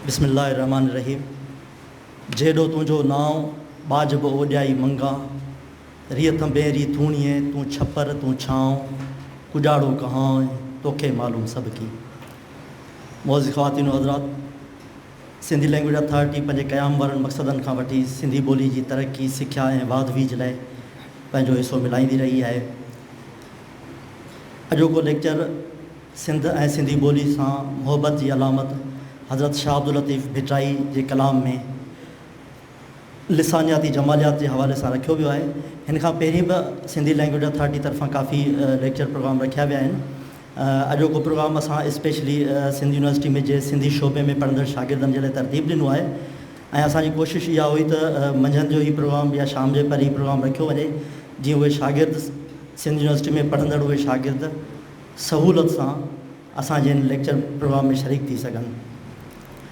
بسم الله الرحمٰن الرحيم جيڏو تنهنجو نانء ٻاجهه به اوڏيائي منگان ريء ٿنڀين ري ٿوڻيء تون ڇپر تون ڇانء ڪڄاڙو ڪهانء توکي معلوم سڀڪي معزز خواتين و حضرات سنڌي لئنگويج اٿارٽي پنهنجي قيام وارن مقصدن کان وٺي سنڌي ٻولي جي ترقي، سکيا ۽ واڌ ويجهه لاء پنهنجو حصو ملائيندي رهي آهي. اڄوڪو ليڪچر سنڌ ۽ سنڌي ٻولي سان محبت جي علامت حضرت شاهه عبداللطيف ڀٽرائي جي ڪلام ۾. لسانياتي جماليات جي حوالي سان رکيو ويو آهي. هن کان پهرين به سنڌي لئنگويج اٿارٽي طرفان ڪافي ليڪچر پروگرام رکيا ويا آهن. اڄوڪو پروگرام اسان اسپيشلي سنڌ يونيورسٽي ۾ جي سنڌي شعبي ۾ پڙهندڙ شاگردن جي لاء ترتيب ڏنو آهي ۽ اسان جي ڪوشش اها هئي ته منجهند جو هي پروگرام يا شام جي پهر هي پروگرام رکيو وڃي جيئن اهي شاگرد سنڌ يونيورسٽي ۾ پڙهندڙ اهي شاگرد سهولت سان اسان جي هن ليڪچر پروگرام ۾ شريڪ ٿي سگهن.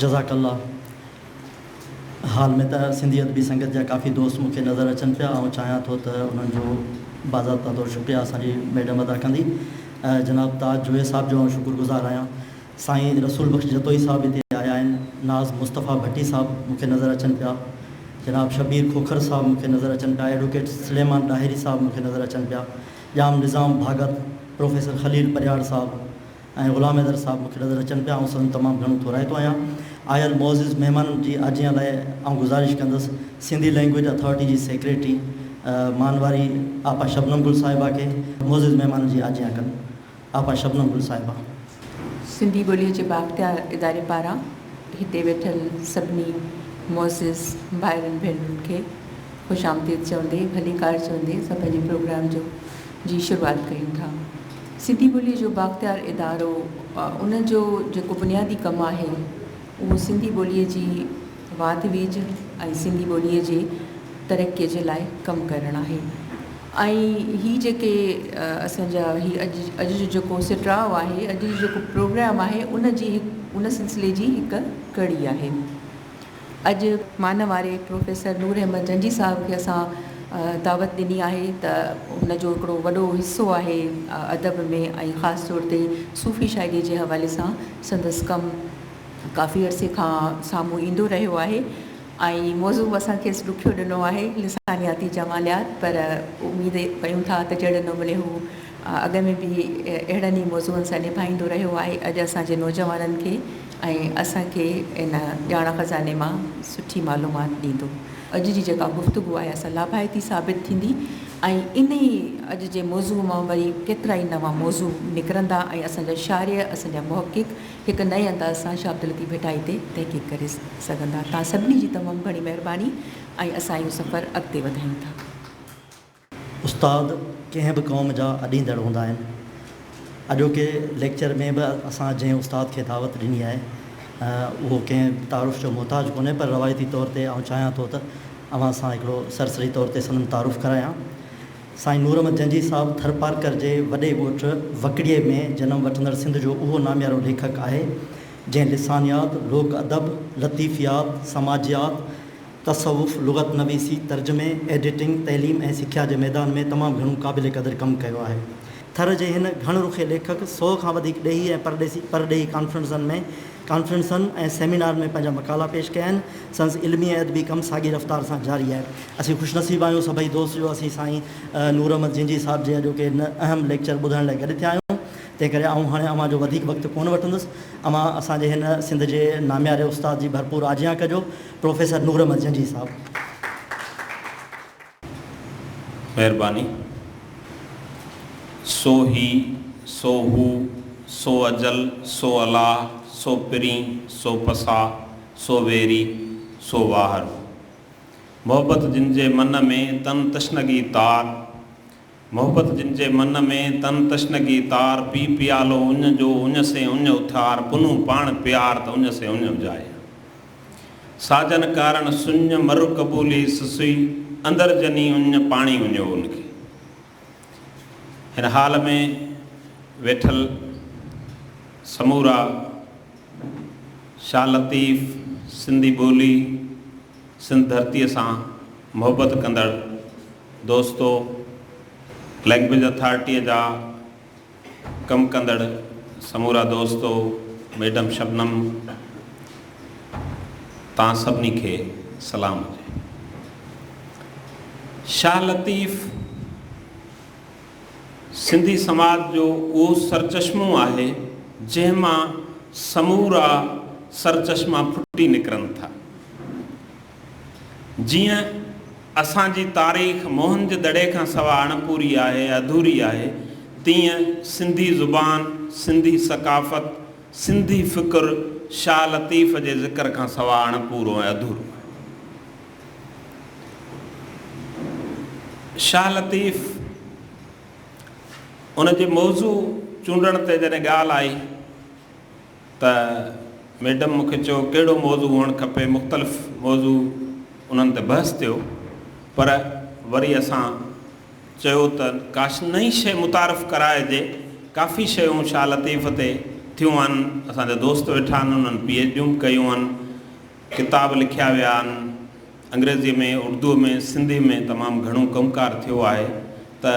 جزاڪ الله حال ۾ ته سنڌي ادبي سنگت جا ڪافي دوست مون کي نظر اچن پيا آئون چاهيان ٿو ته انهن جو باضابطه طور شڪريا اسان جي ميڊم ادا ڪندي جناب تاج جويي صاحب جو آئون شڪر گذار آهيان سائين رسول بخش جتوئي صاحب هتي آيا آهن ناز مصطفيٰ ڀٽي صاحب مون کي نظر اچن پيا جناب شبير کوکر صاحب مون کي نظر اچن پيا ايڊوڪيٽ سليمان ڏاهري صاحب مون کي نظر اچن پيا ڄام نظام ڀاڳت، پروفيسر خليل پرهياڙ صاحب ۽ غلام حيدر صاحب مون کي نظر اچن پيا، آئون سندن تمام گهڻو ٿورائتو آهيان. آيل معزز مهمانن جي آجيان لاء آئون گذارش ڪندس سنڌي لئنگويج اٿارٽي جي سيڪريٽري مانواري آپا شبنم گل صاحبه کي معزز مهمانن جي آجيان ڪن. آپا شبنم گل صاحبه. سنڌي ٻوليء جي بااختيار اداري پاران هتي ويٺل سڀني معزز ڀائرن ڀينرن کي خوش آمديد چوندي ڀليڪار چوندي اسان پنهنجي پروگرام جو جي شروعات ڪريون ٿا. سنڌي ٻوليء جو بااختيار ادارو ان جو جيڪو بنيادي ڪم آهي اهو سنڌي ٻوليء جي واڌ ويجهه ۽ سنڌي ٻوليء جي ترقيء جي لاء ڪم ڪرڻ آهي ۽ هي جيڪي اسان جا هي اڄ اڄ جو جيڪو سٽراء آهي اڄ جو جيڪو پروگرام آهي ان جي هڪ ان سلسلي جي هڪ ڪڙي آهي اڄ مان واري پروفيسر نور احمد جنجي صاحب کي اسان دعوت ڏني آهي ته هن جو هڪڙو وڏو حصو آهي ادب ۾ ۽ خاص طور تي صوفي شاعري جي حوالي سان سندس ڪم ڪافي عرصي کان سامهون ايندو رهيو آهي ۽ موضوع اسان کيس ڏکيو ڏنو آهي لسانياتي جماليات پر اميد ڪيون ٿا ته جهڙي نموني هو اڳ ۾ به اهڙن ئي موضوعن سان نڀائيندو رهيو آهي اڄ اسان جي نوجوانن کي ۽ اسان کي ان ڄاڻ خزاني مان سٺي معلومات ڏيندو اڄ جي جيڪا گفتگو آهي اسان لاڀائتي ثابت ٿيندي ۽ انهي اڄ جي موضوع مان وري ڪيترائي نوان موضوع نڪرندا ۽ اسان جا شارح اسان جا محقق هڪ نئين انداز سان شاه عبداللطيف ڀٽائي تي تحقيق ڪري سگهندا. توهان سڀني جي تمام گهڻي مهرباني ۽ اسان اهو سفر اڳتي وڌايون ٿا. استاد ڪنهن به قوم جا اڏيندڙ هوندا آهن. اڄوڪي ليڪچر ۾ به اسان جنهن استاد کي دعوت ڏني آهي اهو ڪنهن تعارف جو محتاج ڪونهي پر روايتي طور تي آئون چاهيان ٿو ته اوهان سان هڪڙو سرسري طور تي سندن تعارف ڪرايان. سائين نورمحمد جنجهي صاحب ٿرپارڪر جي وڏي ڳوٺ وڪڙيي ۾ جنم وٺندڙ سنڌ جو اهو ناميارو ليکڪ آهي، جنهن لسانيات، لوڪ ادب، لطيفيات، سماجيات، تصوف، لغت نويسي، ترجمي، ايڊيٽنگ، تعليم ۽ سکيا جي ميدان ۾ تمام گهڻو قابل قدر ڪم ڪيو آهي. ٿر جي هن گهڻ رخي ليکڪ سؤ کان وڌيڪ ڏيهي ۽ پرڏيهي ڪانفرنسن ۾ ڪانفرنسن ۽ سيمينارن ۾ پنهنجا مقالا پيش ڪيا آهن. سندس علمي ۽ ادبي ڪم ساڳي رفتار سان جاري آهي. اسين خوش نصيب آهيون سڀئي دوست جو اسين سائين نور احمد جينجي صاحب جي اڄوڪي هن اهم ليڪچر ٻڌڻ لاء گڏ ٿيا آهيون. تنهن ڪري آئون هاڻي اوهان جو وڌيڪ وقت ڪونه وٺندس. اوهان اسان جي هن سنڌ جي نامياري استاد جي ڀرپور آجيان ڪجو پروفيسر نور احمد جينجي صاحب. مهرباني. سو هي، سو هو، سو اجل، سو الاهه، سو پرين، سو پساهه، سو ويري، سو واهر. محبت جن جي من ۾، تن تشنگي تار، محبت جن جي من ۾، تن تشنگي تار، پي پيالو اڃ جو، اڃ سين اڃ اٿار، پنهون پاڻ پيار، ته اڃ سين اڃ اجايا. ساجن ڪارڻ سڃ، مر قبولي سسئي، اندر جني اڃ، پاڻي اڃو ان کي. هن هال ۾ ويٺل سمورا شاهه لطيف، سنڌي ٻولي، سنڌ ڌرتيء سان محبت ڪندڙ دوستو! لينگويج اٿارٽيء جا ڪم ڪندڙ سمورا دوستو، ميڊم شبنم، توهان سڀني کي سلام هجي. شاهه لطيف سنڌي سماج جو اهو سرچشمو آهي، جنهن مان سمورا سرچشما ڦٽي نڪرن ٿا. جيئن اسان جي تاريخ موهن جو دڙي کان سوا اڻپوري آهي، اڌوري آهي، تيئن سنڌي زبان، سنڌي ثقافت، سنڌي فڪر شاهه لطيف جي ذڪر کان سوا اڻپورو ۽ اڌورو آهي. شاهه لطيف ان جي موضوع چونڊڻ تي جڏهن ڳالهه آئي، ته ميڊم مون کي چيو ڪهڙو موضوع هئڻ کپي مختلف موضوع انهن تي بحث ٿيو پر وري اسان چيو ته ڪاش نئين شئي متعارف ڪرائجي ڪافي شيون شاهه لطيف تي ٿيون آهن اسان جا دوست ويٺا آهن انهن پي ايڇ ڊيون به ڪيون آهن ڪتاب لکيا ويا آهن انگريزيء ۾ اردوء ۾ سنڌيء ۾ تمام گهڻو ڪم ڪار ٿيو آهي ته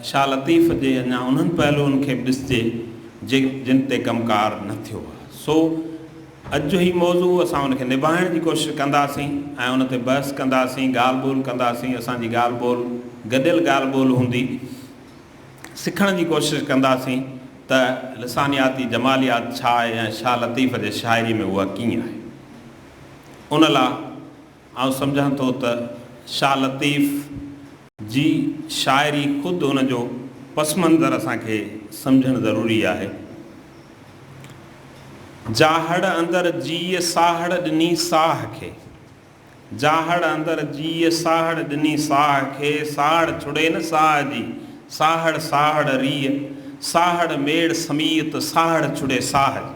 شاهه لطيف جي اڃا انهن پهلوئن کي به ڏسجي جي جن تي ڪم ڪار نه ٿيو آهي سو اڄ جو هي موضوع اسان ان کي نباهڻ جي ڪوشش ڪنداسين ۽ ان تي بحث ڪنداسين ڳالهه ٻولهه ڪنداسين اسان جي ڳالهه ٻولهه گڏيل ڳالهه ٻولهه هوندي سکڻ جي ڪوشش ڪنداسين ته لسانياتي جماليات ڇا آهي ۽ شاهه لطيف جي شاعري ۾ اها ڪيئن آهي. ان لا آئون سمجهان ٿو ته شاهه لطيف جي شاعري خود ان جو پس منظر اسان کي سمجهڻ ضروري آهي. جاهڙ اندر جيء ساهڙ ڏني ساهه کي. جاهڙ اندر جيء ساهڙ ڏني ساهه کي، ساهڙ ڇڙي نه ساهه جي، ساهڙ ساهڙ ريء، ساهڙ ميڙ سميت، ساهڙ ڇڙي ساهه جي.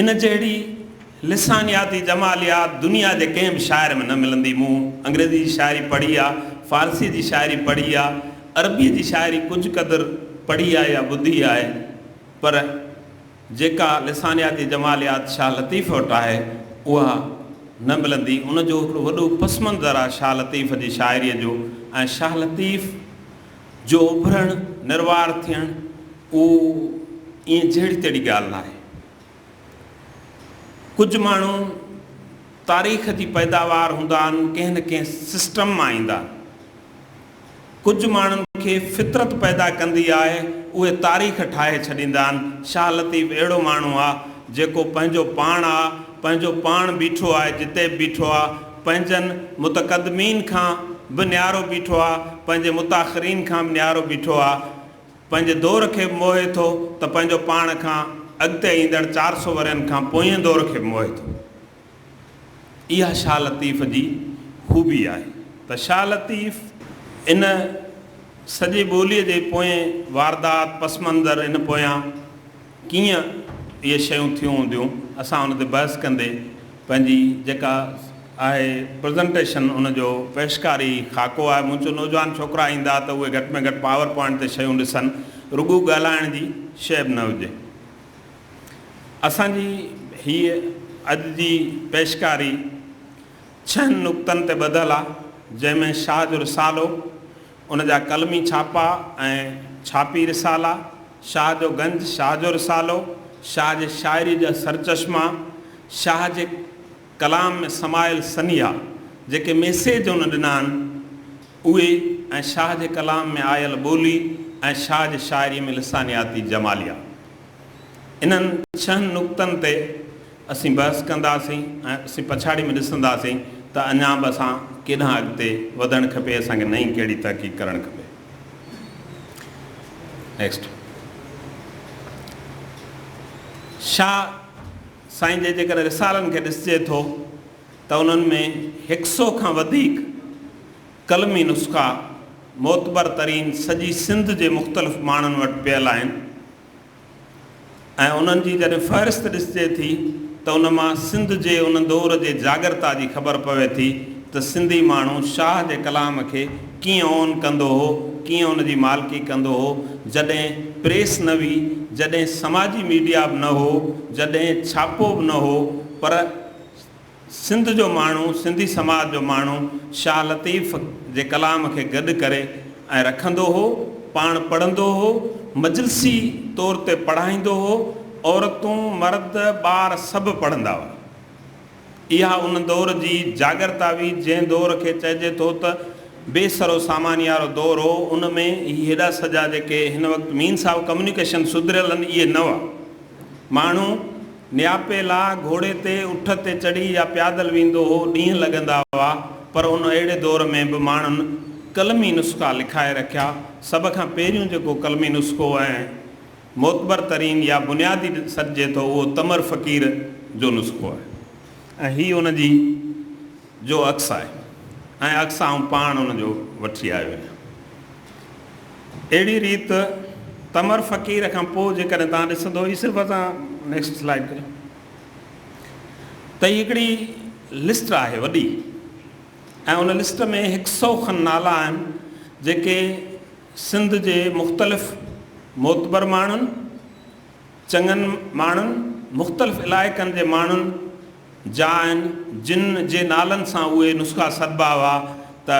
ان جهڙي لسانياتي جماليات دنيا جي ڪنهن به شاعر ۾ نه ملندي. مون انگريزي جي شاعري پڙهي آ، فارسيء جي شاعري پڙهي آ، عربيء جي شاعري ڪجهه قدر پڙهي آ يا ٻڌي آهي، پر جيڪا لسانياتي جماليات شاهه لطيف وٽ آهي، اها نه ملندي. ان جو هڪڙو وڏو پس منظر آ شاهه لطيف جي شاعريء جو ۽ شاهه لطيف. جو اڀرڻ نروار ٿيڻ اهو ائين جهڙي تهڙي ڳالهه ناهي. ڪجهه ماڻهو تاريخ جي پيداوار هوندا آهن، ڪنهن نه ڪنهن سسٽم مان ايندا آهن. ڪجهه ماڻهن کي فطرت پيدا ڪندي آهي، اهي تاريخ ٺاهي ڇڏيندا آهن. شاهه لطيف اهڙو ماڻهو آهي، جيڪو پنهنجو پاڻ آهي، پنهنجو پاڻ بيٺو آهي، جتي به بيٺو آهي، پنهنجن متقدمين کان به نيارو بيٺو آ، پنهنجي متاخرين کان به نيارو بيٺو آ، پنهنجي دور کي به موهي ٿو ته پنهنجو پاڻ کان اڳتي ايندڙ چار سؤ ورهين کان پوئين دور کي به موهي ٿو. اها شاهه لطيف جي خوبي آهي ته شاهه لطيف ان سڄي ٻوليء جي پوئين واردات، پس منظر، ان پويان ڪيئن اهي شيون ٿيون هونديون، اسان ان تي بحث ڪندي پنهنجي جيڪا آهي پرزنٽيشن ان جو پيشڪاري هي خاڪو آهي، مون چيو نوجوان ڇوڪرا ايندا ته اهي گهٽ ۾ گهٽ پاور پوائنٽ تي شيون ڏسن، رڳو ڳالهائڻ جي شيء به نه هجي. اسان جي هيء اڄ جي پيشڪاري ڇهن نقطن تي ٻڌل آهي، جنهن ۾ شاهه جو رسالو، ان جا قلمي ڇاپا ۽ ڇاپي رسالا، شاهه جو گنج، شاهه جو رسالو، شاهه جي شاعريء جا سرچشما، شاهه جي ڪلام ۾ سمايل سنيها، جيڪي ميسيج هن ڏنا آهن، اهي ۽ شاهه جي ڪلام ۾ آيل ٻولي ۽ شاهه جي شاعريء ۾ لسانياتي جماليا. انهن ڇهن نقطن تي. اسين بحث ڪنداسين ۽ اسين پڇاڙي ۾ ڏسنداسين ته اڃا به اسان ڪيڏانهن اڳتي وڌڻ کپي، اسان کي نئين ڪهڙي تحقيق ڪرڻ کپي. Next. شاهه سائين جي جيڪڏهن رسالن کي ڏسجي ٿو ته انهن ۾ هڪ سئو کان وڌيڪ قلمي نسخا معتبر ترين سڄي سنڌ جي مختلف ماڻهن وٽ پيل آهن. ۽ انهن جي جڏهن فهرست ڏسجي ٿي ته ان مان سنڌ جي ان دور جي جاڳرتا جي خبر پوي ٿي ته سنڌي ماڻهو شاهه جي ڪلام کي ڪيئن اون ڪندو هو، ڪيئن ان جي مالڪي ڪندو هو، جڏهن پريس نه هئي، جڏهن سماجي ميڊيا به نه هو، جڏهن ڇاپو به نه هو، پر. سنڌ جو ماڻهو، سنڌي سماج جو ماڻهو شاهه لطيف جي ڪلام کي گڏ ڪري ۽ رکندو هو، پاڻ پڙهندو هو، مجلسي طور تي پڙهائيندو هو، عورتون، مرد، ٻار سڀ پڙهندا هئا. اها ان دور جي جاڳرتا هئي، جنهن دور کي چئجي ٿو ته بي سرو ساماني وارو دور هو، ان ۾ هي هيڏا سڄا جيڪي هن وقت مين صاحب ڪميونيڪيشن سڌريل آهن اهي نه هئا. ماڻهو نياپي لاء گهوڙي تي، اٺ تي چڙهي يا پيادل ويندو هو، ڏينهن لڳندا هئا، پر ان اهڙي دور ۾ به ماڻهن قلمي نسخا لکائي رکيا، سڀ کان پهريون جيڪو قلمي نسخو ۽ معتبر ترين يا بنيادي سڏجي ٿو اهو تمر فقير جو نسخو آهي ۽ هي ان جي. جو عڪس آهي ۽ عڪس آئون پاڻ ان جو وٺي آيو آهيان. اهڙي ريت تمر فقير کان پوء جيڪڏهن توهان ڏسندو هي صرف اسان نيڪسٽ سلائيڊ ڪريو ته هي هڪڙي لسٽ آهي وڏي ۽ ان لسٽ ۾ هڪ سئو کن نالا آهن جيڪي سنڌ جي مختلف معتبر ماڻهن چڱن ماڻهن مختلف علائقن جي ماڻهن جا آهن، جن جي نالن سان اهي نسخا سڏبا هئا ته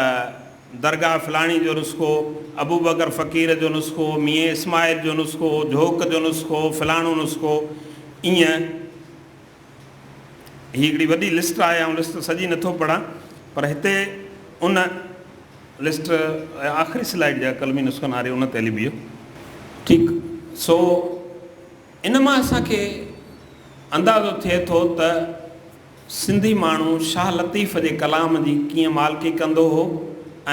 درگاهه فلاڻي جو نسخو، ابوبڪر فقير جو نسخو، ميين اسماعيل جو نسخو، جهوڪ جو نسخو، فلاڻو نسخو ائين هي هڪڙي وڏي لسٽ آهي آئون لسٽ سڄي نٿو پڙهان پر هتي ان لسٽ آخري سلائيڊ جا قلمي نسخن واري ان تي لبيو ٺيڪ سو ان مان اسان کي اندازو ٿئي ٿو ته سنڌي ماڻهو شاهه لطيف جي ڪلام جي ڪيئن مالڪي ڪندو هو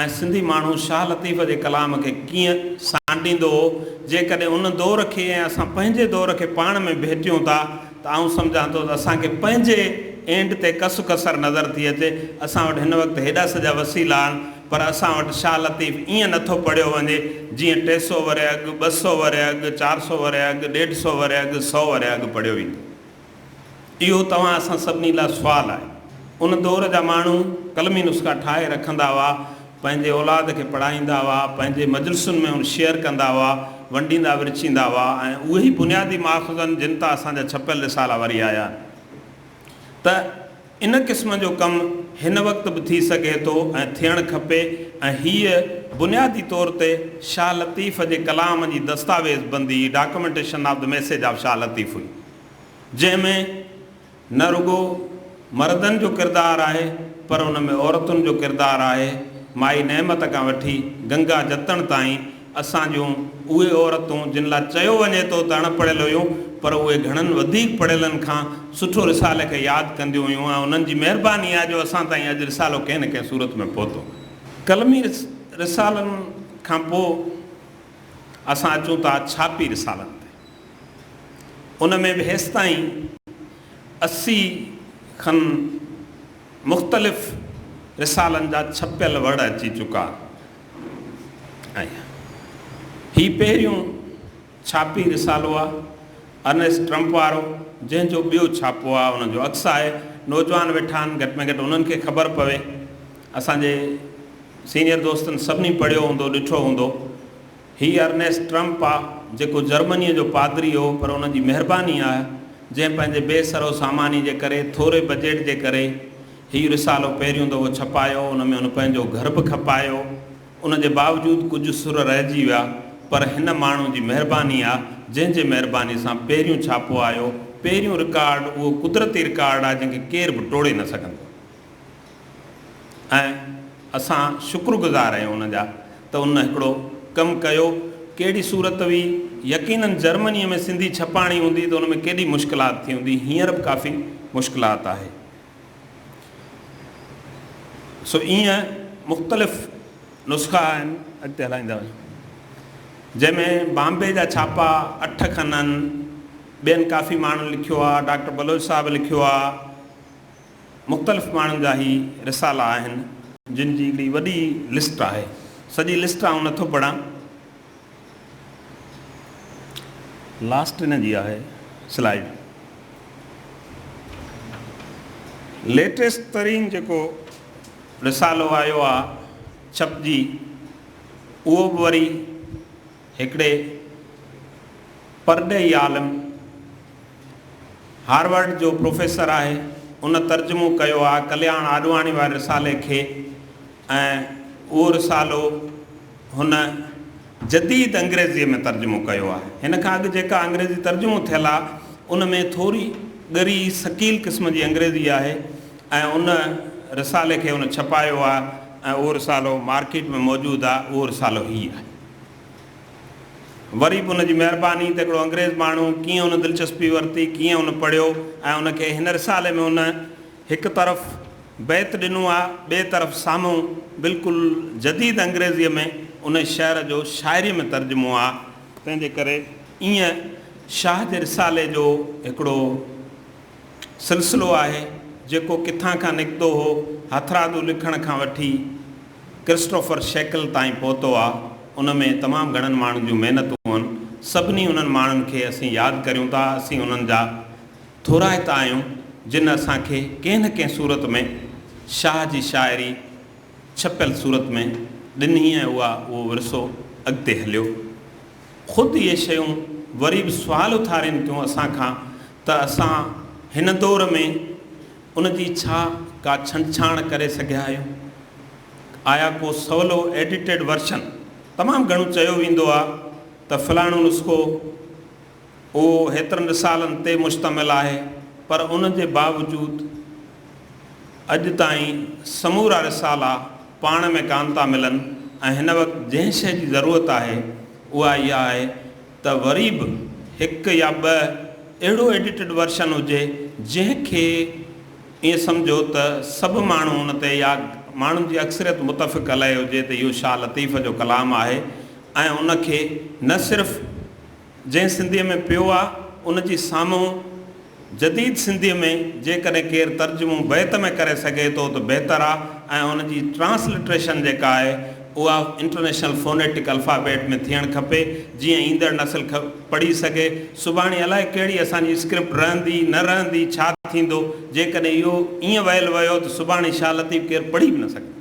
۽ سنڌي ماڻهو شاهه لطيف جي ڪلام کي ڪيئن سانڍيندو هو. جيڪڏهن ان دور کي ۽ اسان پنهنجي دور کي پاڻ ۾ ڀيٽيون ٿا ته آئون سمجهان ٿو ته اسان کي پنهنجي اينڊ تي ڪس ڪسر نظر ٿي اچي. اسان وٽ هن وقت هيڏا سڄا وسيلا آهن. پر اسان وٽ شاهه لطيف ائين نه ٿو پڙهيو وڃي جيئن ٽي سؤ ورهيه اڳ، ٻه سؤ ورهيه اڳ، چار سؤ ورهيه اڳ، ڏيڍ سؤ ورهيه اڳ، سؤ ورهيه اڳ پڙهيو ويندو. اهو توهان اسان سڀني لاء سوال آهي. ان دور جا ماڻهو قلمي نسخا ٺاهي رکندا هئا، پنهنجي اولاد کي پڙهائيندا هئا، پنهنجي مجلسن ۾ ان شيئر ڪندا هئا، ونڊيندا ورچيندا هئا ۽ اهي ئي بنيادي ماخذ آهن جن تان اسان جا ڇپيل رسالا وري آيا آهن ته ان قسم جو ڪم هن وقت به ٿي سگهي ٿو ۽ ٿيڻ کپي ۽ هيء بنيادي طور تي شاهه لطيف جي ڪلام جي دستاويز بندي، Documentation of the Message of Shah Latif، هئي، جنهن ۾ نه رڳو مردن جو ڪردار آهي، پر ان ۾ عورتن جو ڪردار آهي، مائي نعمت کان وٺي گنگا جتڻ تائين اسان جون اهي عورتون جن لاء چيو وڃي ٿو ته اڻ پڙهيل هيون پر اهي گهڻن وڌيڪ پڙهيلن کان سٺو رسالي کي ياد ڪنديون هيون ۽ انهن جي مهرباني آهي جو اسان تائين اڄ رسالو ڪنهن نه ڪنهن صورت ۾ پهتو آهي. قلمي رسالن کان پوء اسان اچون ٿا ڇاپي رسالن تي. ان ۾ به هيستائين اسي کن مختلف رسالن جا ڇپيل وڙ اچي چڪا آهيان. هي پهريون ڇاپي رسالو آ، ارنيسٽ ٽرمپ وارو، جنهن جو ٻيو ڇاپو آ، ان جو عڪس آهي. نوجوان ويٺا آهن، گهٽ ۾ گهٽ انهن کي خبر پوي. اسان جي سينيئر دوستن سڀني پڙهيو هوندو، ڏٺو هوندو. هي ارنيسٽ ٽرمپ آ، جيڪو جرمنيء جو پادري هو، پر ان جي مهرباني آ، جنهن پنهنجي بي سرو ساماني جي ڪري، ٿوري بجيٽ جي ڪري، هي رسالو پهريون دفعو ڇپايو، ان ۾ هن پنهنجو گهر به کپايو، ان جي باوجود ڪجهه سر رهجي ويا، پر هن ماڻهو جي مهرباني آ، جنهن جي مهرباني سان پهريون ڇاپو آيو، پهريون رڪارڊ، اهو قدرتي رڪارڊ آ، جنهن کي ڪير به ٽوڙي نه سگهندو. ۽ اسان شڪرگذار آهيون ان جا ته ان هڪڙو ڪم ڪيو ڪهڙي صورت هئي يقينن جرمني ۾ سنڌي ڇپائڻي هوندي ته ان ۾ ڪيڏي مشڪلات ٿي هوندي هينئر به ڪافي مشڪلات آهي سو ايئن مختلف نسخا آهن اڳتي هلائيندا وڃو جنهن ۾ بامبي جا ڇاپا اٺ کن آهن ٻين ڪافي ماڻهن لکيو آهي ڊاڪٽر بلوچ صاحب لکيو آهي مختلف ماڻهن جا هي رسالا آهن. جن جي هڪڙي وڏي لسٽ آهي. سڄي لسٽ آئون نٿو پڙهان. لاسٽ ان جي آهي سلائيڊ. ليٽيسٽ ترين جيڪو رسالو آيو آ ڇپجي اهو به وري هڪڙي پرڏيهي عالم، هارورڊ جو پروفيسر آهي. ان ترجمو ڪيو آ ڪلياڻ آڏواڻي واري رسالي کي ۽ اهو رسالو هن جديد انگريزيء ۾ ترجمو ڪيو آ. هن کان اڳ جيڪا انگريزي ترجمو ٿيل آ، ان ۾ ٿوري ڳري ثقيل قسم جي انگريزي آهي ۽ ان رسالي کي هن ڇپايو آ ۽ اهو رسالو مارڪيٽ ۾ موجود آ. اهو رسالو هي آهي. وري به ان جي مهرباني ته هڪڙو انگريز ماڻهو ڪيئن ان دلچسپي ورتي، ڪيئن ان پڙهيو ۽ ان کي هن رسالي ۾ ان هڪ طرف بيت ڏنو آ، ٻئي طرف سامهون بلڪل جديد انگريزيء ۾ ان شعر جو شاعريء ۾ ترجمو آ. تنهن جي ڪري ائين شاهه جي رسالي جو هڪڙو سلسلو آهي، جيڪو ڪٿان کان نڪتو هو، هٿرادو لکڻ کان وٺي، ڪرسٽوفر شيڪل تائين پهتو آ، ان ۾ تمام گهڻن ماڻهن جون محنتون هن، سڀني انهن ماڻهن کي اسين ياد ڪريون ٿا، اسين انهن جا ٿورائتا آهيون، جن اسان کي ڪنهن نه ڪنهن صورت ۾ شاهه جي شاعري ڇپيل صورت ۾ ڏني ۽ اها اهو ورثو اڳتي هليو. خود اهي شيون وري به سوال اٿارين ٿيون اسان کان ته اسان هن دور ۾ ان جي ڇا ڪا ڇنڊڇاڻ ڪري سگهيا آهيو؟ آيا ڪو سولو ايڊيٽيڊ ورشن؟ تمام گهڻو چيو ويندو آ ته فلاڻو نسخو اهو هيترن رسالن تي مشتمل آهي پر ان جي باوجود اڄ تائين سمورا رسالا پاڻ ۾ ڪانه ٿا ملن ۽ هن وقت جنهن شيء جي ضرورت آهي اها اها آهي ته وري به هڪ يا ٻه اهڙو ايڊيٽڊ ورشن هجي جنهن کي ائين سمجهو ته سڀ ماڻهو ان تي يا ماڻهن جي اڪثريت متفق عليه هجي ته اهو شاهه لطيف جو ڪلام آهي ۽ ان کي نه صرف جنهن سنڌيء ۾ پيو آهي ان جي سامهون جديد سنڌيء ۾ جيڪڏهن ڪير ترجمو بيت ۾ ڪري سگهي ٿو ته بهتر آ ۽ ان جي ٽرانسلٽريشن جيڪا آهي اها انٽرنيشنل فونيٽڪ الفابيٽ ۾ ٿيڻ کپي جيئن ايندڙ نسل پڙهي سگهي سڀاڻي الائي ڪهڙي اسان جي اسڪرپٽ رهندي نه رهندي ڇا ٿيندو جيڪڏهن اهو ائين ويل ويو ته سڀاڻي شاهه لطيف ڪير پڙهي به نه سگهندو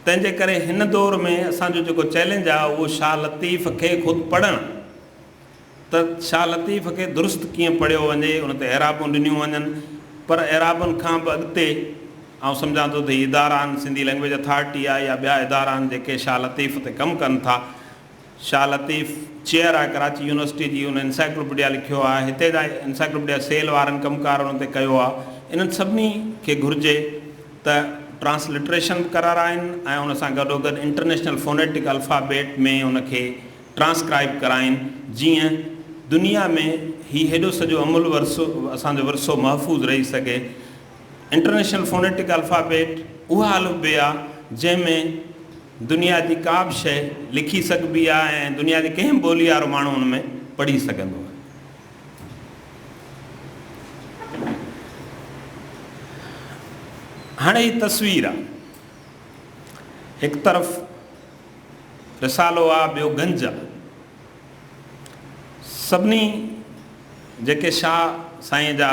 تنهنجي ڪري هن دور ۾ اسان جو جيڪو چئلينج آ اهو شاهه لطيف کي خود پڙهڻ ته شاهه لطيف کي درست ڪيئن پڙهيو وڃي، ان تي اعرابون ڏنيون وڃن، پر اعرابن کان به اڳتي آئون سمجهان ٿو ته هي ادارا آهن، سنڌي لئنگويج اٿارٽي آهي يا ٻيا ادارا آهن جيڪي شاهه لطيف تي ڪم ڪن ٿا. شاهه لطيف چيئر آهي ڪراچي يونيورسٽي جي، هن انسائيڪلوپيڊيا لکيو آهي، هتي جا انسائيڪلوپيڊيا سيل وارن ڪم ڪار ان تي ڪيو آهي، انهن سڀني کي گهرجي ته ٽرانسلٽريشن به ڪرارائين ۽ ان سان گڏوگڏ انٽرنيشنل فونيٽڪ الفابيٽ ۾ ان کي ٽرانسڪرائب ڪرائين جيئن دنيا ۾ هي هيڏو سڄو عمل ورثو اسان جو ورثو محفوظ رهي سگهي. انٽرنيشنل فونيٽڪ الفابيٽ اها الف بي آهي جنهن ۾ دنيا جي ڪا به شيء لکي سگهبي آهي ۽ دنيا جي ڪنهن به ٻولي وارو ماڻهو ان ۾ پڙهي سگهندو آهي. هاڻي هي تصوير آهي هڪ طرف. رسالو آ ٻيو گنج آ. سڀني جيڪي شاهه سائين جا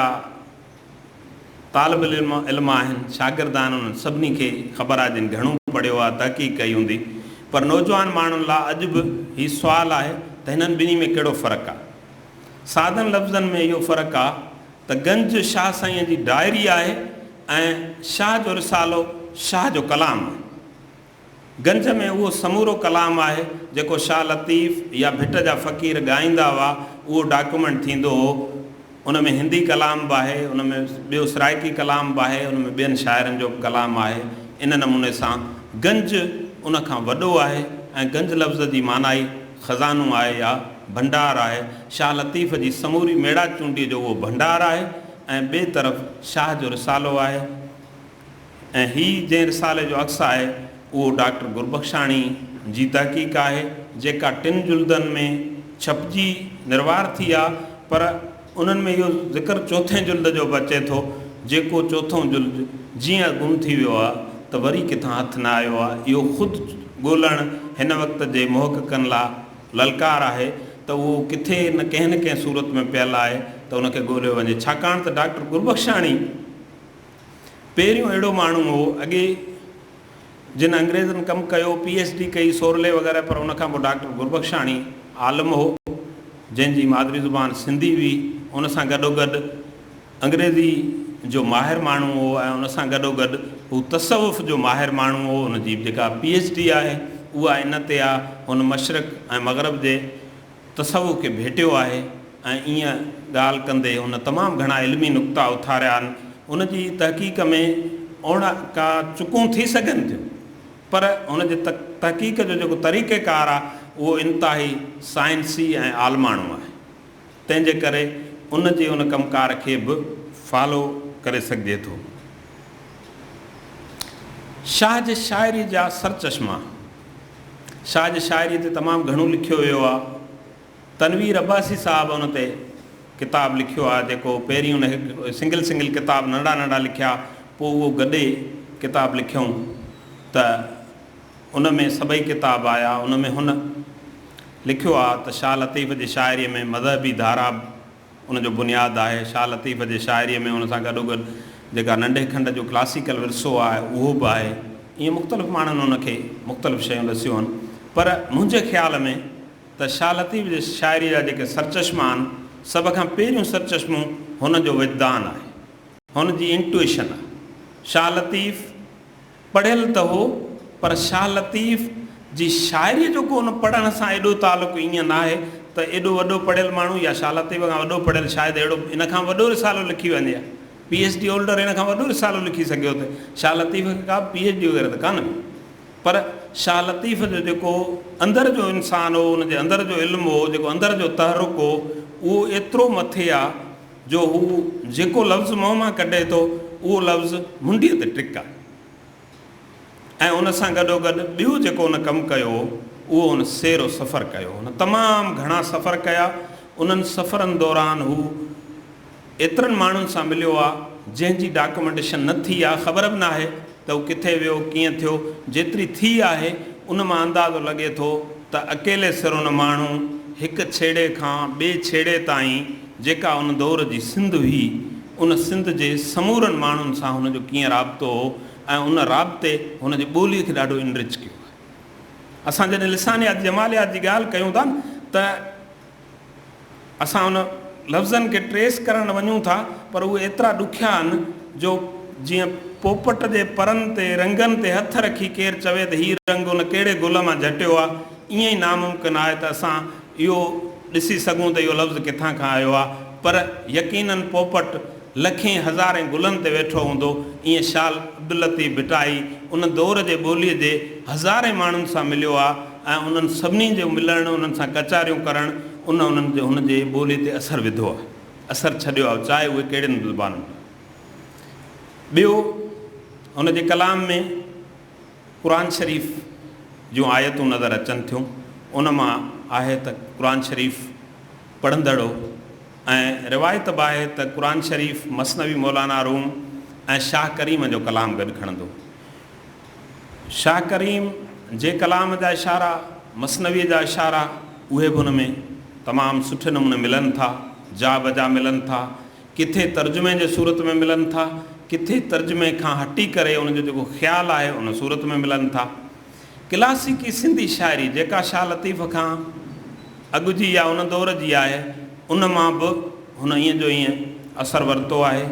طالب العلم آهن، شاگرد آهن انهن سڀني کي خبر آ جن گهڻو پڙهيو آ، تحقيق ڪئي هوندي پر نوجوان ماڻهن لا اڄ به هي سوال آهي ته هنن ٻنهي ۾ ڪهڙو فرق آ؟ سادن لفظن ۾ اهو فرق آ ته گنج شاهه سائين جي ڊائري آهي ۽ شاهه جو رسالو شاهه جو ڪلام آهي. گنج ۾ اهو سمورو ڪلام آهي جيڪو شاهه لطيف يا ڀٽ جا فقير ڳائيندا هئا اهو ڊاڪيومينٽ ٿيندو هو ان ۾ هندي ڪلام به آهي ان ۾ ٻيو سرائيڪي ڪلام به آهي ان ۾ ٻين شاعرن جو به ڪلام آهي ان نموني سان گنج ان کان وڏو آهي ۽ گنج لفظ جي معنيٰ ئي خزانو آهي يا ڀنڊار آهي شاهه لطيف جي سموري ميڙاچونڊي جو اهو ڀنڊار آهي ۽ ٻئي طرف شاهه جو رسالو آهي ۽ هي جنهن رسالي جو عڪس آهي اهو ڊاڪٽر گربخشاڻي جي تحقيق آهي جيڪا ٽن جلدن ۾ ڇپجي نروار ٿي آ پر انهن ۾ اهو ذڪر چوٿين جلد جو به اچي ٿو جيڪو چوٿون جلد جيئن گم ٿي ويو آ ته وري ڪٿان هٿ نه آيو آ اهو خود ڳولڻ هن وقت جي محققن لا للڪار آهي ته اهو ڪٿي نه ڪنهن نه ڪنهن صورت ۾ پيل آهي ته ان کي ڳوليو وڃي ڇاڪاڻ ته ڊاڪٽر گربخشاڻي پهريون اهڙو ماڻهو هو اڳي جن انگريزن ڪم ڪيو، پي ايڇ ڊي ڪئي سورلي وغيره پر ان کان پوء ڊاڪٽر گربخشاڻي عالم هو جنهن جي مادري زبان سنڌي هئي ان سان گڏوگڏ انگريزي جو ماهر ماڻهو هو ۽ ان سان گڏوگڏ هو تصوف جو ماهر ماڻهو هو ان جي جيڪا پي ايڇ ڊي آهي اها ان تي آهي هن مشرق ۽ مغرب جي تصوف کي ڀيٽيو آهي ۽ ايئن ڳالهه ڪندي هن تمام گهڻا علمي نقطا اٿاريا آهن. هن جي تحقيق ۾ اوڻ ڪا چڪون ٿي سگهن ٿيون پر هن جي تحقيق جو جيڪو طريقه ڪار آهي اهو انتهائي سائنسي ۽ عالماڻو آهي تنهن جي ڪري ان جي ان ڪم ڪار کي به فالو ڪري سگهجي ٿو. شاهه جي شاعري جا سرچشما. ساڄ شاعريء تي تمام گهڻو لکيو ويو آهي. تنوير عباسي صاحب ان تي ڪتاب لکيو آهي جيڪو پهرين ان هڪ سنگل سنگل ڪتاب ننڍا ننڍا لکيا پوء اهو گڏي ڪتاب لکيائون ته ان ۾ سڀئي ڪتاب آيا ان ۾ هن لکيو آهي ته شاهه لطيف جي شاعريء ۾ مذهبي ڌارا ان جو بنياد آهي. شاهه لطيف جي شاعريء ۾ ان سان گڏوگڏ جيڪا ننڍي کنڊ جو ڪلاسيڪل ورثو آهي، اهو به آهي. ائين مختلف ماڻهن ان کي مختلف شيون ڏسيون آهن، پر منهنجي خيال ۾ ته شاهه لطيف جي شاعريء جا جيڪي سرچشما آهن، سڀ کان پهريون سرچشمو هن جو وجدان آهي. هن جي انٽوئيشن آهي. شاهه لطيف. پڙهيل ته هو پر شاهه لطيف جي شاعريء جو ڪو ان پڙهڻ سان ايڏو تعلق ائين ناهي ته ايڏو وڏو پڙهيل ماڻهو يا شاهه لطيف کان وڏو پڙهيل شايد اهڙو هن کان به وڏو رسالو لکي وڃي ها پي ايڇ ڊي هولڊر هن کان وڏو رسالو لکي سگهيو ته شاهه لطيف کي ڪا به پي ايڇ ڊي وغيره ته ڪانه هئي پر شاهه لطيف جو جيڪو اندر جو انسان هو ان جي اندر جو علم هو جيڪو اندر جو تحرڪ هو اهو ايترو مٿي آ جو هو جيڪو لفظ منهن مان ڪڍي ٿو اهو لفظ منڊيء تي ٽڪ آهي ۽ ان سان گڏوگڏ ٻيو جيڪو هن ڪم ڪيو هو اهو هن سير و سفر ڪيو هو. هن تمام گهڻا سفر ڪيا. انهن سفرن دوران هو ايترن ماڻهن سان مليو آهي جنهن جي ڊاڪومينٽيشن نه ٿي آهي خبر به ناهي ته هو ڪٿي ويو ڪيئن ٿيو جيتري ٿي آهي ان مان اندازو لڳي ٿو ته اڪيلي سر ان ماڻهو هڪ ڇيڙي کان ٻئي ڇيڙي تائين جيڪا ان دور جي سنڌ هئي، ان سنڌ جي سمورن ماڻهن سان هن جو ڪيئن رابطو هو ۽ ان رابطي هن جي ٻوليء کي ڏاڍو انرچ ڪيو آهي. اسان جڏهن لسانيات جماليات جي ڳالهه ڪيون ٿا نه ته اسان ان لفظن کي ٽريس ڪرڻ وڃون ٿا پر اهي ايترا ڏکيا آهن جو جيئن پوپٽ جي پرن تي رنگن تي هٿ رکي ڪير چوي ته هي رنگ ان ڪهڙي گل مان جهٽيو آهي ائين ئي ناممڪن آهي ته اسان اهو ڏسي سگهون ته اهو لفظ ڪٿان کان آيو آهي پر يقيناً پوپٽ لکين هزارين گلن تي ويٺو هوندو ائين شال عبداللطيف ڀٽائي ان دور جي ٻولي جي هزارين ماڻهن سان مليو آهي ۽ انهن سڀني جو ملڻ، انهن سان ڪچهريون ڪرڻ، ان انهن جو هن جي ٻولي تي اثر وڌو آهي، اثر ڇڏيو آهي، چاهي اهي ڪهڙين به زبانن ۾ هجن. ٻيو هن جي ڪلام ۾ قرآن شريف جون آيتون نظر اچن ٿيون، ان مان آهي ته قرآن شريف پڙهندڙو ۽ روايت به آهي ته قرآن شريف مثنوي مولانا روم ۽ شاهه ڪريم جو ڪلام گڏ کڻندو. شاهه ڪريم جي ڪلام جا اشارا، مثنويء جا اشارا، اهي به ان ۾ تمام سٺي نموني ملن ٿا، جا بجا ملن ٿا، ڪٿي ترجمي جي صورت ۾ ملن ٿا، ڪٿي ترجمي کان هٽي ڪري ان جو جيڪو خيال آهي ان صورت ۾ ملن ٿا. ڪلاسيڪي سنڌي شاعري جيڪا شاهه لطيف کان اڳ جي يا ان دور جي آهي، ان مان به هن ائين جو ائين اثر ورتو آهي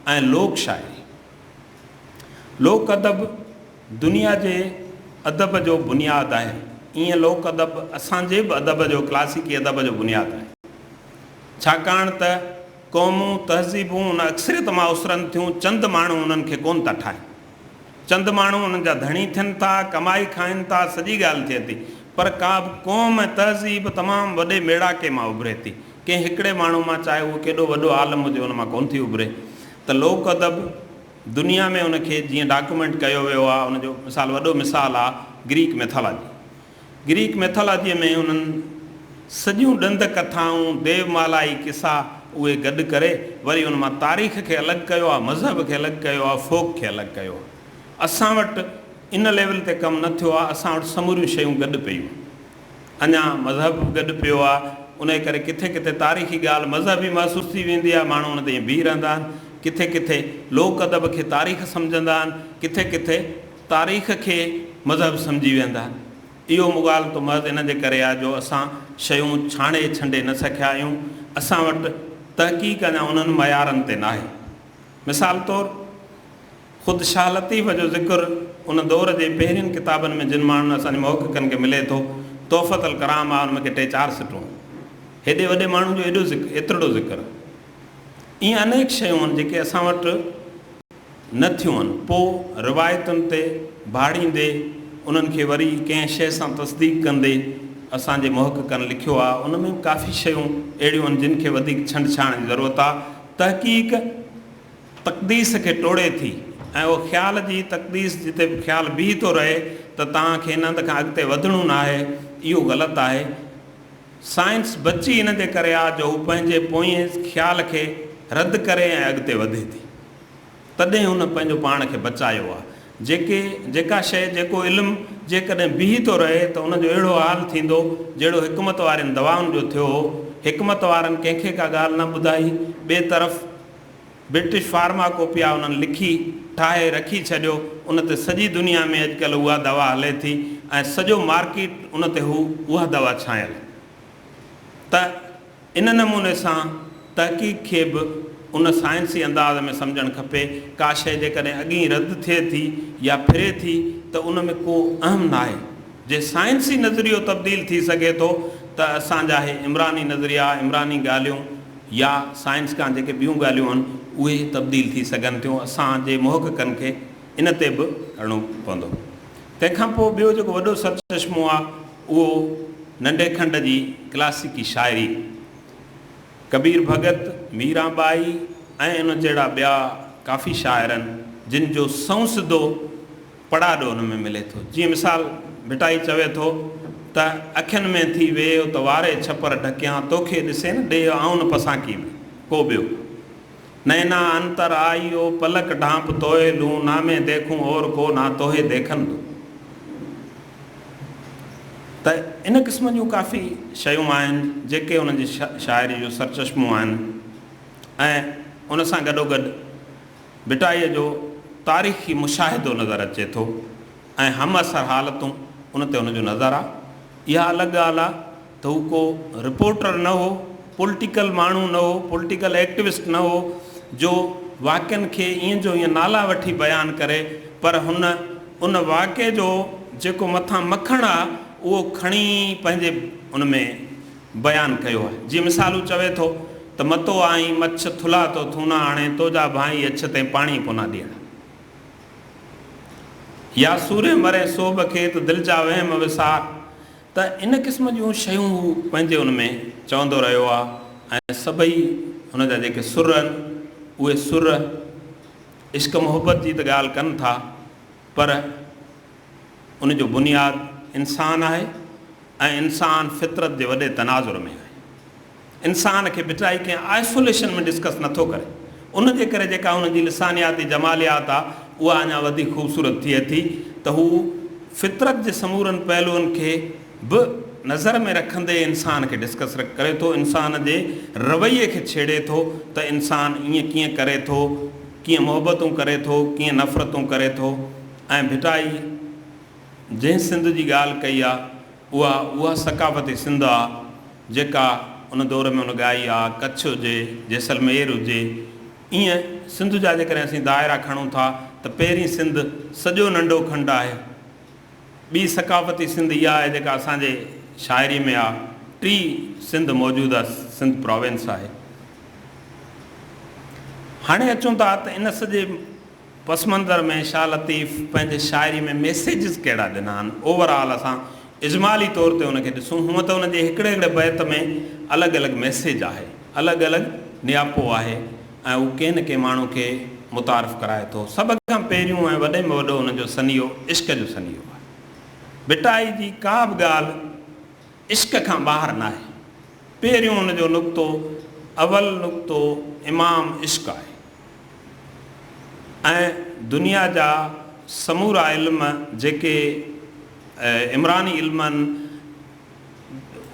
۽ لوڪ شاعري، لوڪ ادب دنيا جي ادب جو بنياد آهي، ايئن لوڪ ادب اسان جي به ادب جو ڪلاسيڪي ادب جو بنياد آهي. ڇاڪاڻ ته قومون، تهذيبون ان اڪثريت مان اسرن ٿيون، چند ماڻهو انهن کي ڪونه ٿا ٺاهين. چند ماڻهو انهن جا ڌڻي ٿين ٿا، ڪمائي کائين ٿا، سڄي ڳالهه ٿئي ٿي، پر ڪا به قوم ۽ تهذيب تمام وڏي ميڙاڪي مان اڀري ٿي، ڪنهن هڪڙي ماڻهو مان، چاهي اهو ڪيڏو وڏو عالم هجي، ان مان ڪونه ٿي اڀري. ته لوڪ ادب دنيا ۾ ان کي جيئن ڊاڪيومينٽ ڪيو ويو آهي ان جو مثال وڏو مثال آهي گريڪ ميٿالاجي. گريڪ ميٿالاجيء ۾ انهن سڄيون ڏند ڪٿائون، ديو مالائي قصا اهي گڏ ڪري وري ان مان تاريخ کي الڳ ڪيو آهي، مذهب کي الڳ ڪيو آهي، فوڪ کي الڳ ڪيو آهي. اسان وٽ ان ليول تي ڪم نه ٿيو آهي، اسان وٽ سموريون شيون گڏ پيون. اڃا مذهب به گڏ پيو آ انهي ڪري ڪٿي ڪٿي تاريخي ڳالهه مذهبي محسوس ٿي ويندي آ ماڻهو ان تي ائين بيهي رهندا آهن ڪٿي ڪٿي لوڪ ادب کي تاريخ سمجهندا آهن ڪٿي ڪٿي تاريخ کي مذهب سمجهي ويهندا آهن اهو مغالطو محض ان جي ڪري آ جو اسان شيون ڇاڻي ڇنڊي نه سکيا آهيون اسان وٽ تحقيق اڃا انهن معيارن تي ناهي مثال طور خود شاهه لطيف جو ذڪر ان دور جي پهرين ڪتابن ۾ جن ماڻهن اسان جي محققن کي ملي ٿو، تحفة الڪرام آ، ان ۾ ڪي ٽي چار سٽون. هيڏي وڏي ماڻهو جو ايڏو ذڪر، ايترڙو ذڪر. ائين انيڪ شيون آهن جيڪي اسان وٽ نه ٿيون آهن. پوء روايتن تي ڀاڙيندي، انهن کي وري ڪنهن شيء سان تصديق ڪندي، اسان جي محققن لکيو آ، ان ۾ به ڪافي شيون اهڙيون آهن جن کي وڌيڪ ڇنڊ ڇاڻ جي ضرورت آ. تحقيق. تقديس کي ٽوڙي ٿي ۽ اهو خيال جي تقديس جتي به خيال بيهي ٿو رهي ته توهان کي ان هنڌ کان اڳتي وڌڻو ناهي، اهو غلط آهي. سائنس بچي ان جي ڪري آ جو هو پنهنجي پوئين خيال کي رد ڪري ۽ اڳتي وڌي ٿي. تڏهن هن پنهنجو پاڻ کي بچايو آ. جيڪي جيڪا شيء جيڪو علم جيڪڏهن بيهي ٿو رهي ته ان جو اهڙو حال ٿيندو جهڙو حڪمت وارين دوائن جو ٿيو هو. حڪمت وارن ڪنهن کي ڪا ڳالهه نه ٻڌائي. ٻئي طرف. برٽش فارما ڪوپيا انهن لکي ٺاهي رکي ڇڏيو ان تي سڄي دنيا ۾ اڄڪلهه اها دوا هلي ٿي ۽ سڄو مارڪيٽ ان تي هو اها دوا ڇانيل ته ان نموني سان تحقيق کي به ان سائنسي انداز ۾ سمجهڻ کپي ڪا شئي جيڪڏهن اڳئين رد ٿئي ٿي يا ڦري ٿي ته ان ۾ ڪو اهم ناهي جي سائنسي نظريو تبديل ٿي سگهي ٿو ته اسان جا هي عمراني نظريا عمراني ڳالهيون يا سائنس کان جيڪي ٻيون ڳالهيون آهن اهي تبديل ٿي سگهن ٿيون اسان جي محققن کي ان تي به هلڻو پوندو تنهن کان پوء ٻيو جيڪو وڏو سرچشمو آهي اهو ننڍي کنڊ جي ڪلاسيڪي شاعري ڪبير ڀڳت ميران ٻائي ۽ ان جهڙا ٻيا ڪافي شاعرن جن جو سنئون سڌو پڙاڏو ان ۾ ملي ٿو. جيئن مثال ڀٽائي چوي ٿو ته اکين ۾ ٿي ويهه ته واري ڇپر ڍڪيان توکي ڏسي نه ڏيهه آئون نه پسانڪي ۾ ڪو ٻيو نينا انتر آئي او پلڪ ڍانپ توهي لون نا مين ديکون اور ڪو نا توهي ديکن دون ته ان قسم جون ڪافي شيون آهن جيڪي ان جي شاعري جو سرچشمو آهن ۽ ان سان گڏوگڏ ڀٽائيء جو تاريخي مشاهدو نظر اچي ٿو ۽ همعصر حالتون ان تي هن جو نظر آ. اها الڳ ڳالهه آ ته هو ڪو رپورٽر نه هو، پولٽيڪل ماڻهو نه هو، پولٽيڪل ايڪٽوسٽ نه هو جو واقعن کي ائين جو ائين نالا وٺي بيان ڪري پر هن ان واقعي جو جيڪو مٿان مکڻ آ اهو کڻي پنهنجي ان ۾ بيان ڪيو آهي جيئن مثال هو چوي ٿو ته متو آئين مڇ ٿلها تو ٿونا آڻي تو جا ڀانئي اڇ تين پاڻي ڪونا ڏيڻ يا سورين مرين سوڀ کي ته دل جا وهم وسار ته ان قسم جون شيون هو پنهنجي ان ۾ چوندو رهيو آهي ۽ سڀئي هن جا جيڪي سر آهن اهي سر عشق محبت جي ته ڳالهه ڪن ٿا پر ان جو بنياد انسان آهي ۽ انسان فطرت جي وڏي تناظر ۾ آهي. انسان کي ڀٽائي ڪنهن آئسوليشن ۾ ڊسڪس نه ٿو ڪري. ان جي ڪري جيڪا هن جي لسانياتي جماليات آ اها اڃا وڌيڪ خوبصورت ٿئي ٿي ته هو فطرت جي سمورن پهلوئن کي به نظر ۾ رکندي انسان کي ڊسڪس ڪري ٿو، انسان جي رويي کي ڇيڙي ٿو ته انسان ائين ڪيئن ڪري ٿو، ڪيئن محبتون ڪري ٿو، ڪيئن نفرتون ڪري ٿو. ۽ ڀٽائي جنهن سنڌ جي ڳالهه ڪئي آ اها اها ثقافتي سنڌ آ جيڪا ان دور ۾ هن ڳائي آ ڪڇ هجي جيسلمير هجي ايئن سنڌ جا جيڪڏهن اسين دائرا کڻون ٿا ته پهرين سنڌ سڄو ننڍو کنڊ آهي ٻي ثقافتي سنڌ اها آهي جيڪا اسان جي شاعري ۾ آ ٽي سنڌ موجوده سنڌ پراوينس آهي هاڻي اچون ٿا ته ان سڄي. پس منظر ۾ شاھ لطيف پنهنجي شاعري ۾ ميسيجز ڪهڙا ڏنا آھن؟ اوور آل اسان اجمالي طور تي ان کي ڏسون. ھونء ته ان جي ھڪڙي ھڪڙي بيت ۾ الڳ الڳ ميسيج آھي، الڳ الڳ نياپو آھي ۽ ھو ڪنھن نه ڪنھن ماڻھو کي متعارف ڪرائي ٿو. سڀ کان پهريون ۽ وڏي ۾ وڏو ان جو سنيھو عشق جو سنيھو آھي. ڀٽائي جي ڪا به ڳالھ عشق کان ٻاھر ناھي. پهريون ان جو نقطو اول نقطو امام عشق آھي. ۽ دنيا جا سمورا علم جيڪي عمراني علم آهن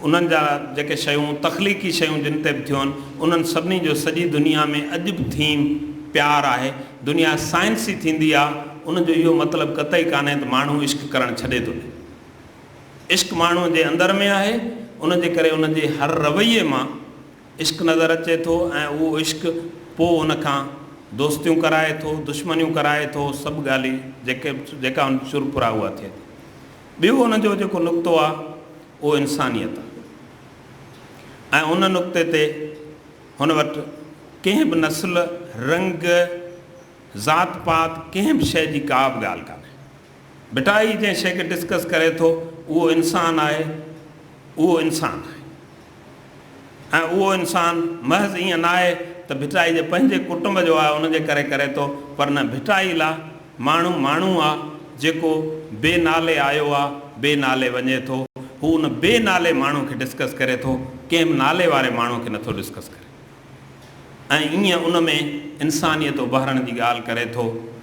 انهن جا جيڪي شيون تخليقي شيون جن تي به ٿيون انهن سڀني جو سڄي دنيا ۾ اڄ به ٿيم پيار آهي دنيا سائنسي ٿيندي آهي ان جو اهو مطلب قطعي ڪانهي ته ماڻهو عشق ڪرڻ ڇڏي ٿو ڏي عشق ماڻهو جي اندر ۾ آهي ان جي ڪري ان جي هر رويي مان عشق نظر اچي ٿو ۽ اهو عشق پوء ان کان دوستيون ڪرائي ٿو، دشمنيون ڪرائي ٿو، سڀ ڳالهي جيڪي جيڪا ان سر پرا اها ٿئي ٿي. ٻيو ان جو جيڪو نقطو آ اهو انسانيت آ ۽ ان نقطي تي هن وٽ ڪنهن به نسل، رنگ، ذات پات ڪنهن به شيء جي ڪا به ڳالهه ڪانهي. بيٽا هي جنهن شيء کي ڊسڪس ڪري ٿو اهو انسان آهي اهو انسان آهي ۽ اهو انسان محض ائين ناهي ته ڀٽائي جي پنهنجي ڪٽنب جو آهي ان جي ڪري ڪري ٿو پر نه ڀٽائي لا ماڻهو ماڻهو آ جيڪو بي نالي آيو آ بي نالي وڃي ٿو هو ان بي نالي ماڻهو کي ڊسڪس ڪري ٿو ڪنهن به نالي واري ماڻهو کي نٿو ڊسڪس ڪري ۽ ائين ان ۾ انسانيت اڀارڻ جي ڳالهه ڪري ٿو